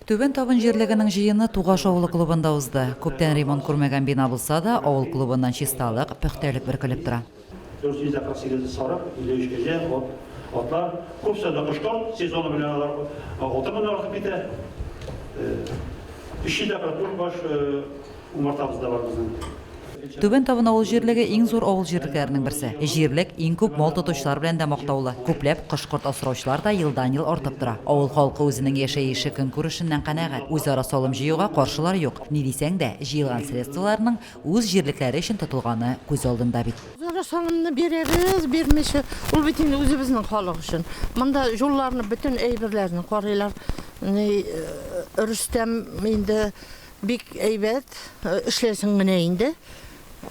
Түбән Табын җирлегенең җыены Тугаш авылы клубында узды. Күптән ремонт күрмәгән бина булса да, авыл клубыннан чисталык, пөхтәлек бөркелеп тора. 448 сарык, 53 кәҗә, ат, атлар, күп саны кошлар, сезоны белән алар алты меңнән артып китә. 300 дә бер күрбаш. Умартабыз да бар безнең. Түбән Табын авыл җирлеге иң зур авыл җирлекләренең берсе. Җирлек иң күп мал тотучылар белән дә мактаулы. Күпләп кош-корт асраучылар да елдан-ел артып тора. Авыл халкы үзенең яшәеше-көнкүрешеннән канәгать. Үзара салым җыюга каршылар юк. Ни дисәң дә, җыелган средстволарның үз җирлекләре өчен тотылганы күз алдында бит. Үзара салымны бирәбез, бирмичә, ул бит инде үзебезнең халык өчен. Монда җулларны, бөтен әйберләрне карыйлар. Ни, Рөстәм инде. Бик әйбәт эшләсең менә инде.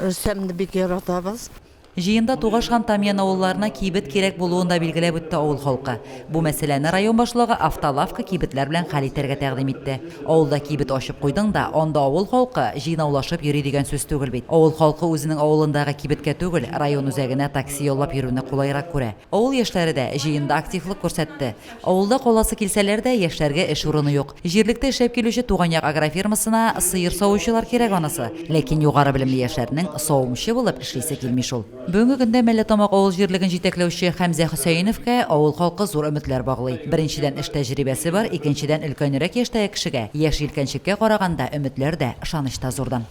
Рөстәмне бик яратабыз. Җыенда Тугаш һәм Тамьян авылларына кибет кирәк булуын да билгеләп үтте авыл халкы. Бу мәсьәләне район башлыгы автолавка кибетләр белән хәл итәргә тәкъдим итте. Авылда кибет ачып куйдың да, анда авыл халкы җыйнаулашып йөри дигән сүз түгел бит. Авыл халкы үзенең авылындагы кибеткә түгел, район үзәгенә такси яллап йөрүне кулайрак күрә. Авыл яшьләре дә җыенда активлык күрсәтте. Авылда каласы килсәләр дә, яшьләргә эш урыны юк. Җирлектә эшләп килүче Туган як агрофирмасына сыер савучылар кирәк анысы. Ләкин югары белемле яшьләрнең савымчы булып эшлисе килми шул. Бүгенге көндә Мәлләтамак авыл җирлеген җитәкләүче Хәмзә Хөсәеновка авыл халкы зур өметләр баглый. Беренчедән, эш тәҗрибәсе бар, икенчедән, өлкәнрәк яшьтәге кешегә, яшь җилкәнчеккә караганда, өметләр дә, ышаныч та зурдан.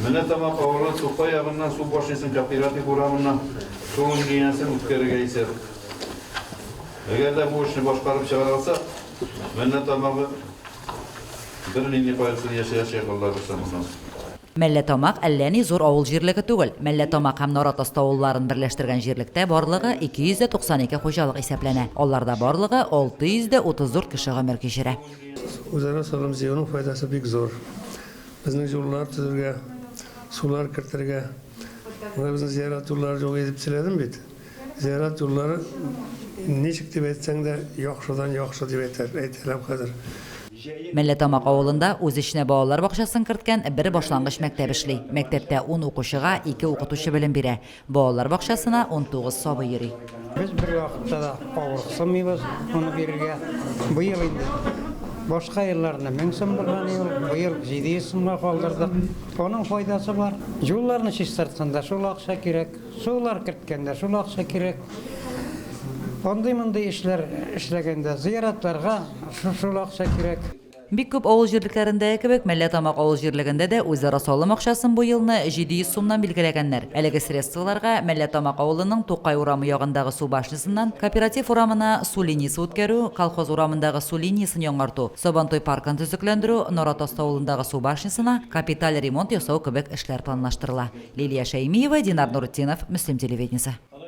Мәлләтамак авылы Тукай ягыннан су башнесын Кооператив урамыннан су линиясен үткәрергә исәп. Әгәр дә бу эшне башкарып чыгара алсак, меннән тамагы бер нинди кайгысыз яшәячәк Аллабыз тарафыннан. Мәлләтамак әллә ни зур авыл җирлеге түгел. Мәлләтамак һәм Наратасты авылларын берләштергән җирлектә барлыгы 292 хуҗалык исәпләнә. Алларда барлыгы 634 кеше гомер кичерә. Үзара салым җыюның файдасы бик зур. Безнең җуллар төзергә, сулар кертергә, менә безнең зиярат юллары юк иде дип сөйләдем бит. Зиярат юллары ничек дип әйтсәң дә, яхшыдан яхшы дип әйтәр, әйтәләм хәзер. Мәлләтамак авылында үз эченә балалар бакчасын керткән бер башлангыч мәктәп эшли. Мәктәптә ун укучыга ике укытучы белем бирә. Балалар бакчасына унтугыз сабый йөри. Без бервакытта да авырыксынмыйбыз моны бирергә. Быел инде, башка елларында мең сум булган иде ул, быел җиде йөз сумга калдырдык. Аның файдасы бар. Юлларны чистартканда шул акча кирәк. Сулар керткәндә шул акча кирәк. Андый-мондый эшләр эшләгәндә, зыяратларга шул акча кирәк. Бик күп авыл җирлекләрендәге кебек, Мәлләтамак авыл җирлегендә дә үзара салым акчасын бу елны 700 сумнан билгеләгәннәр. Әлеге средстволарга Мәлләтамак авылының Тукай урамы ягындагы су башнясыннан Кооператив урамына су линиясе үткәрү, Колхоз урамындагы су линиясен яңарту, Сабантуй паркын төзекләндерү, Наратаст авылындагы су башнясына капиталь ремонт ясау кебек Эшләр планлаштырыла. Лилия Шәймиева, Динар Нуретдинов, Мөслим телевидениесе.